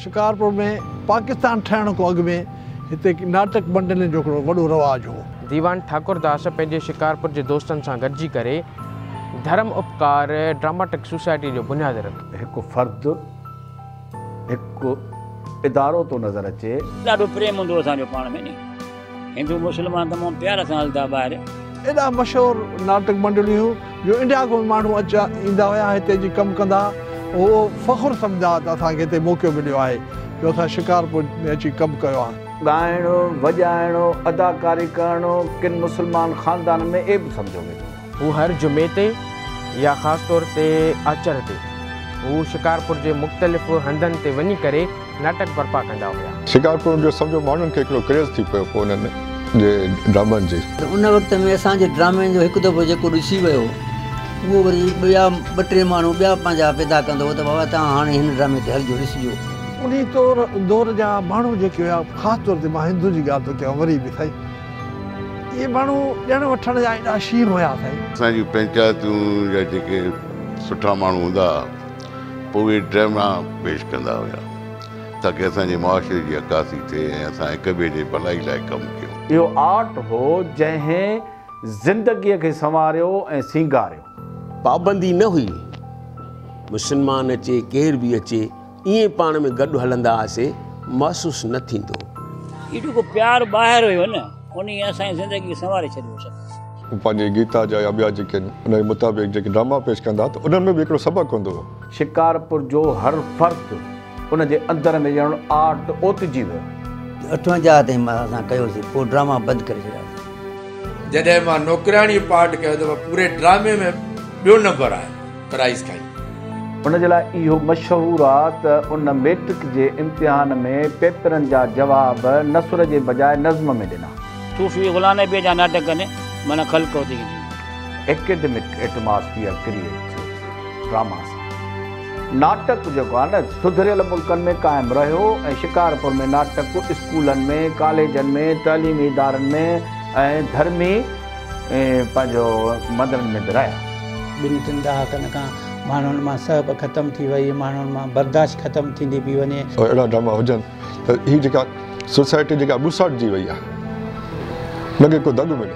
شڪارپور ۾ پاڪستان ٺهڻ کان اڳ ۾ هتي ناٽڪ منڊلين جو هڪڙو وڏو رواج هو. ديوان ٺاڪرداس پنهنجي شڪارپور جي دوستن سان گڏجي ڪري ڌرم اپڪار ڊراماٽڪ سوسائٽي جو بنياد رکيو. هڪ فرد هڪ ادارو ٿو نظر اچي. ڏاڍو پريم هوندو هو اسان جو پاڻ ۾ ني. هندو مسلمان تمام پيار سان هلدا ٻاهر. ايڏا مشهور ناٽڪ منڊليون جو انڊيا کان به ماڻهو اچا ايندا هيا هتي اچي ڪم ڪندا هئا اهو فخر سمجهندا هئا ته اسان کي هتي موقعو مليو آهي جو اسان شڪارپور ۾ اچي ڪم ڪيو آهي. ڳائڻ، وڄائڻ، اداڪاري ڪرڻ ڪن مسلمان خاندانن ۾ عيب سمجهيو ويندو هو. هو هر جمعي تي يا خاص طور تي آچر تي هو شڪارپور جي مختلف هنڌن تي وڃي ڪري ناٽڪ برپا ڪندا هيا. شڪارپور جو سمجهو ماڻهن کي هڪڙو ڪريز ٿي پيو هو انهن جي ڊرامن جي. پر ان وقت ۾ اسان جي ڊرامن جو هڪ دفعو جيڪو ڏسي ويو اهو وري ٻيا ٻه ٽي ماڻهو ٻيا پنهنجا پيدا ڪندو هو ته بابا توهان هاڻي هن ڊرامي تي هلجو ڏسجو. انهي دور جا ماڻهو جيڪي هيا خاص طور تي مان هندن جي ڳالهه ٿو ڪيان وري به سائين. اهي ماڻهو ڏيڻ وٺڻ جا ايڏا شير هيا سائين. اسان جون پنچائتون جا جيڪي سٺا ماڻهو هوندا ها پوء اهي ڊراميا پيش ڪندا هيا تاڪي اسان جي معاشري جي عڪاسي ٿئي ۽ اسان هڪ ٻئي جي ڀلائي لاء ڪم ڪيون. اهو آرٽ هو جنهن زندگيء کي سنواريو ۽ سينگاريو. پابندي نه هئي مسلمان اچي ڪير به اچي. ائين پاڻ ۾ گڏ هلندا هئاسي محسوس نه ٿيندو. هي جيڪو پيار ٻاهر هيو نه انهي اسان جي زندگي سنواري ڇڏيو سچ. هو پنهنجي گيتا جا يا ٻيا جيڪي آهن انهي مطابق جيڪي ڊراما پيش ڪندا ته انهن ۾ به هڪڙو سبق هوندو هو. شڪارپور جو هر فرد ان جي اندر ۾ ڄڻ آرٽ اوتجي ويو. اٺون جا تائين مان اسان ڪيوسي پوء ڊراما بند ڪري ڇڏياسي. جڏهن مان نوڪرياڻي پارٽ ڪيو ته مان پوري ڊرامي ۾ ٻيو نمبر آيو. پرائيز کائي. ان جي لاء اهو مشهور آ ته ان ميٽرڪ جي امتحان ۾ پيپرن جا جواب نثر جي بجاء نظم ۾ ڏنا. صوفي غلام نبيء جا ناٽڪن معنيٰ خلق هوتي هي دنيا. ايڪيڊمڪ ايٽماسفيئر ڪريئيٽ ٿيو ڊراما سان. ناٽڪ جيڪو آ نه سڌريل ملڪن ۾ قائم رهيو ۽ شڪارپور ۾ ناٽڪ اسڪولن ۾، ڪاليجن ۾، تعليمي ادارن ۾ ۽ ڌرمي. ۽ پنهنجو مندرن ۾ ورايا. ٻن ٽن ڏهاڪن کان ماڻهن مان سهپ ختم ٿي وئي، ماڻهن مان برداشت ختم ٿيندي پئي وڃي. اهڙا ڊراما هجن ته هي جيڪا سوسائٽي جيڪا ٻوساٽجي وئي آهي، لڳي ڪو دڳ ملي.